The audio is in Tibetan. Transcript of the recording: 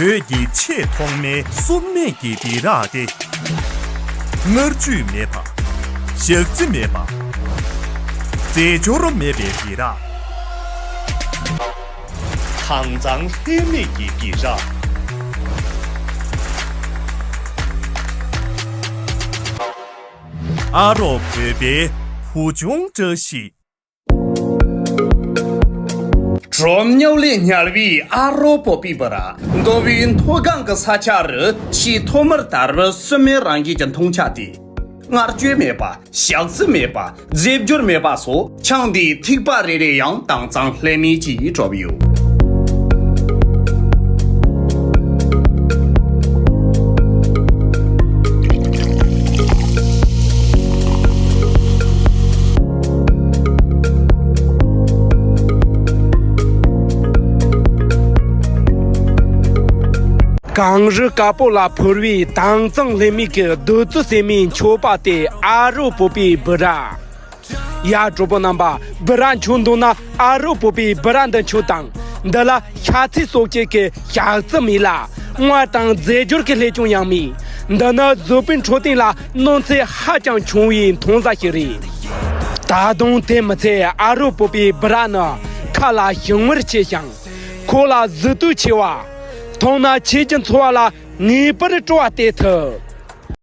བོད་ཀྱི་ཆེས་ཐོག་མའི་སྲུབས་མེད་ཀྱི་སྦི་རག་སྟེ། མནར་གཅོད་མེད་པ། ཞག་རྩི་མེད་པ། རྫས་སྦྱོར་མེད་པའི་སྦི་རག། དྭངས་གཙང་ལྷད་མེད་ཀྱི་སྦི་རག། ཨ་རོགས་བོད་པའི་བུ་ཆུང་བཀྲ་ཤིས། གྲོ་མྱགས་ལས་ཉར་བའི་ཨ་རོགས་པོ་པི་པི་ར་མདོ་བའི་མཐོ་སྒང་གི་ས་ཆ་རུ་ཆེས་མཐོ་མར་དར་བའི་སྲུབ་མའི་རང་རྒྱལ་གྱི་འཐུང་ཆ་དེ། མངར་སྐྱོད་མེད་པ། ཞག་རྩི་མེད་པ། རྫས་འགྱུར་མེད་པ་སོགས་ཆང་དེའི་ཐིགས་པ་རེ་རེ་ཡང་དྭངས་གཙང་ལྷད་མེད་ཀྱིས་བྲོ་བས། གངས་རི་དཀར་པོ་ལ་ཕུར་བའི་དྭངས་གཙང་ལྷད་མེད་ཀྱི་རྡུལ་རྩི་བསྲེས་མའི་མཆོད་པ་དེ་ཨ་རོ་བོད་པའི་སྦུ་ར། ཡར་འབྲོག་པོ་རྣམ་པ་སྦི་རག་མཆོད་འདུག་ན་ཨ་རོགས་པོ་པའི་སྦི་རག་འདི་མཆོད་དང། འདི་ལ་ཤ་ཚིལ་སོགས་སྐྱེས་ཀྱི་ཞག་རྩི་མེད་ལ། དངོས་དང་རྫས་སྦྱོར་གྱི་ལྷད་ཅུང་ཡང་མེད། འདི་ནི་བཟོ་པའི་འཕྲོད་བསྟེན་ལ་གནོད་འཚེ་ཧ་ཅང་ཆུང་བའི་འཐུང་ཟ་ཞིག་རེད། ད་དུང་དེ་མི་ཚད་ཨ་རོགས་པོ་པའི་སྦི་རག་ནི་ཁ་ལ་ཞིམ་མངར་ཆེ་ཞིང། ཁོག་ལ་ཟུག་རྡུ་ཆེ་བ། འཐུང་ན་ཆེས་ཀྱི་འཚོ་བ་ལ་ངེས་པར་སྤྲོ་བ་སྟེར་ཐུབ།